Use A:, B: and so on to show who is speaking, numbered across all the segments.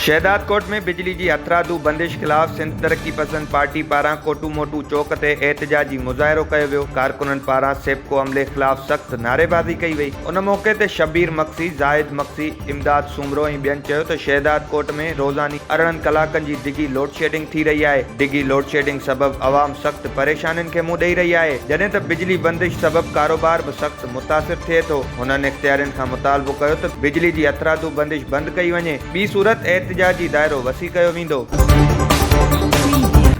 A: شهدادڪوٽ ۾ بجلي جي هٿرادو بندش خلاف سنڌ ترقي پسند پارٽي پاران ڪوٽو موٽو چوڪ تي احتجاجي مظاهرو ڪيو ويو ڪارڪنن پاران سيپڪو عملي خلاف سخت نعريبازي ڪئي وئي ان موقعي تي شبير مگسي زاهد مگسي امداد سومرو ۽ ٻين چيو ته شهدادڪوٽ ۾ روزاني ارڙهن ڪلاڪن جي ڊگهي لوڊشيڊنگ ٿي رهي آهي، ڊگهي لوڊشيڊنگ سبب عوام سخت پريشانين کي منهن ڏئي رهي آهي، جڏهن ته بجلي بندش سبب ڪاروبار به سخت متاثر ٿئي ٿو، هنن اختيارين کان مطالبو ڪيو ته بجلي جي هٿرادو بندش بند ڪئي وڃي، ٻي صورت احتجاجي دائرو وسيع ڪيو ويندو.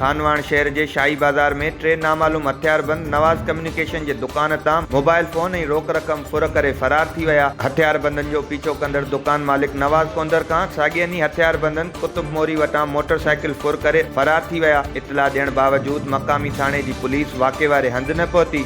A: خانواهڻ شهر جي شاهي بازار ۾ ٽي نامعلوم هٿياربند نواز ڪميونيڪيشن ڪميونيڪيشن جي دڪان تان موبائل فون ۽ روڪ رقم ڦر ڪري فرار ٿي ويا. هٿياربندن جو پيڇو ڪندڙ دڪان مالڪ نواز ڪونڌر کان ساڳئي ڏينهن هٿياربندن قطب موري وٽان موٽر سائيڪل ڦر ڪري فرار ٿي ويا. اطلاع ڏيڻ باوجود مقامي ٿاڻي جي پوليس واقعي واري هنڌ نه پهتي.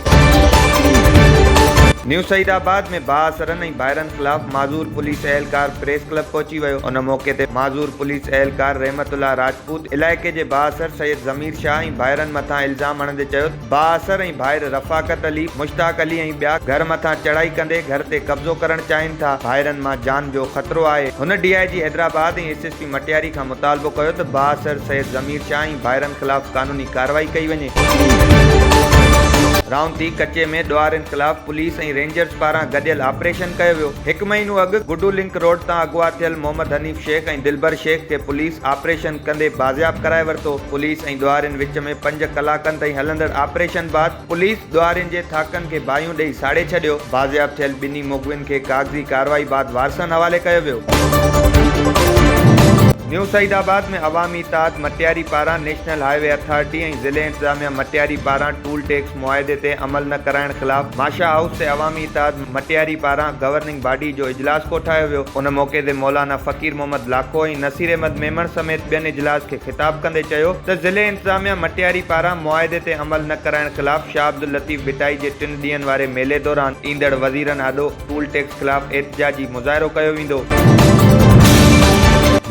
A: نيو سعيد آباد ۾ بااثرن ۽ ڀائرن خلاف معذور پوليس اهلڪار پريس ڪلب پهچي ويو. ان موقعي تي معذور پوليس اهلڪار رحمت الله راجپوت علائقي جي بااثر سيد ضمير شاهه ۽ ڀائرن مٿان الزام هڻندي چيو ته، بااثر ۽ ڀائر رفاقت علي، مشتاق علي ۽ ٻيا گهر مٿان چڙهائي ڪندي گهر تي قبضو ڪرڻ چاهين ٿا، ڀائرن مان جان جو خطرو آهي، هن D I G Hyderabad ۽ S S P Matiari کان مطالبو ڪيو ته بااثر سيد ضمير شاهه ۽ ڀائرن خلاف قانوني ڪارروائي ڪئي وڃي. رائونتي ڪچي ۾ ڏوهارين خلاف پوليس ۽ رينجرز پاران گڏيل آپريشن ڪيو ويو، هڪ مهينو اڳ گڊو لنڪ روڊ تان اغوا ٿيل محمد حنيف، شيخ ۽ دلبر شيخ کي پوليس آپريشن ڪندي بازياب ڪرائي ورتو. پوليس ۽ ڏوهارين وچ ۾ پنج ڪلاڪن تائين هلندڙ آپريشن بعد پوليس ڏوهارين جي ٿاڪن کي باهيون ڏئي ساڙي ڇڏيو. بازياب ٿيل ٻنهي مغوين کي ڪاغذي ڪارروائي بعد وارثن حوالي ڪيو ويو. نيو سعيد آباد ۾ عوامي اتحاد مٽياري پاران نيشنل هاء وي اٿارٽي ۽ ضلعي انتظاميا مٽياري پاران ٽول ٽيڪس، معاهدي تي عمل نه ڪرائڻ خلاف ماشا هائوس تي عوامي اتحاد مٽياري پاران گورننگ باڊي جو اجلاس ڪوٺايو ويو ان موقعي تي مولانا فقير محمد لاکو ۽ نصير احمد ميمڻ سميت ٻين اجلاس کي خطاب ڪندي چيو ته ضلعي انتظاميا مٽياري پاران معاهدي تي عمل نه ڪرائڻ خلاف شاهه عبداللطيف ڀٽائي جي ٽن ڏينهن واري ميلي دوران ايندڙ وزيرن آڏو ٽول ٽيڪس خلاف احتجاجي مظاهرو ڪيو ويندو.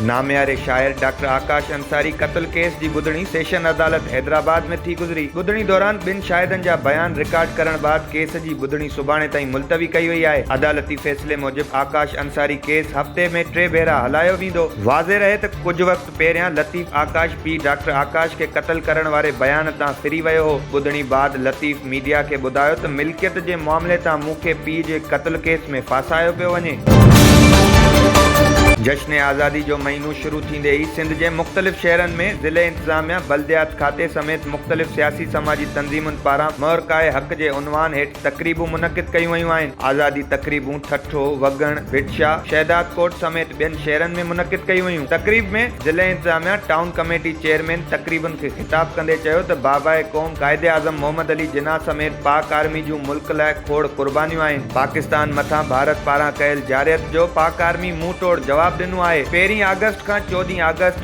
A: نامياري شاعر ڊاڪٽر آڪاش انصاري قتل ڪيس جي ٻڌڻي سيشن عدالت حيدرآباد ۾ ٿي گذري، ٻڌڻي دوران ٻن شاهدن جا بيان رڪارڊ ڪرڻ بعد ڪيس جي ٻڌڻي سڀاڻي تائين ملتوي ڪئي وئي آهي، عدالتي فيصلي موجب آڪاش انصاري ڪيس هفتي ۾ ٽي ڀيرا هلايو ويندو. واضح رهي ته ڪجهه وقت پهريان لطيف آڪاش پيء ڊاڪٽر آڪاش کي قتل ڪرڻ واري بيان تان ڦري ويو هو. ٻڌڻي بعد لطيف ميڊيا کي ٻڌايو ته ملڪيت جي معاملي تان مون کي پيء جي قتل ڪيس ۾ ڦاسايو پيو وڃي. جشن آزادي جو مهينو شروع ٿيندي ئي سنڌ جي مختلف شهرن ۾ ضلعي انتظاميا، بلديات کاتي سميت مختلف سياسي سماجي تنظيمن پاران مهرڪائي حق جي عنوان هيٺ تقريبون منعقد ڪيون ويون آهن. آزادي تقريبون ٺٽو، وڳڻ، ڀٽشاه، شهدادڪوٽ سميت ٻين شهرن ۾ منعقد ڪيون ويون. تقريب ۾ ضلع انتظاميا ٽائون ڪميٽي چيئرمين تقريبن کي خطاب ڪندي چيو ته باباء قوم قائد اعظم محمد علي جناح سميت پاڪ آرمي جون ملڪ لاء کوڙ قربانيون آهن، پاڪستان مٿان ڀارت پاران ڪيل جارحيت جو پاڪ آرمي منهن ٽوڙ جواب ڏنو آهي، پهرين آگسٽ کان چوڏهين آگسٽ.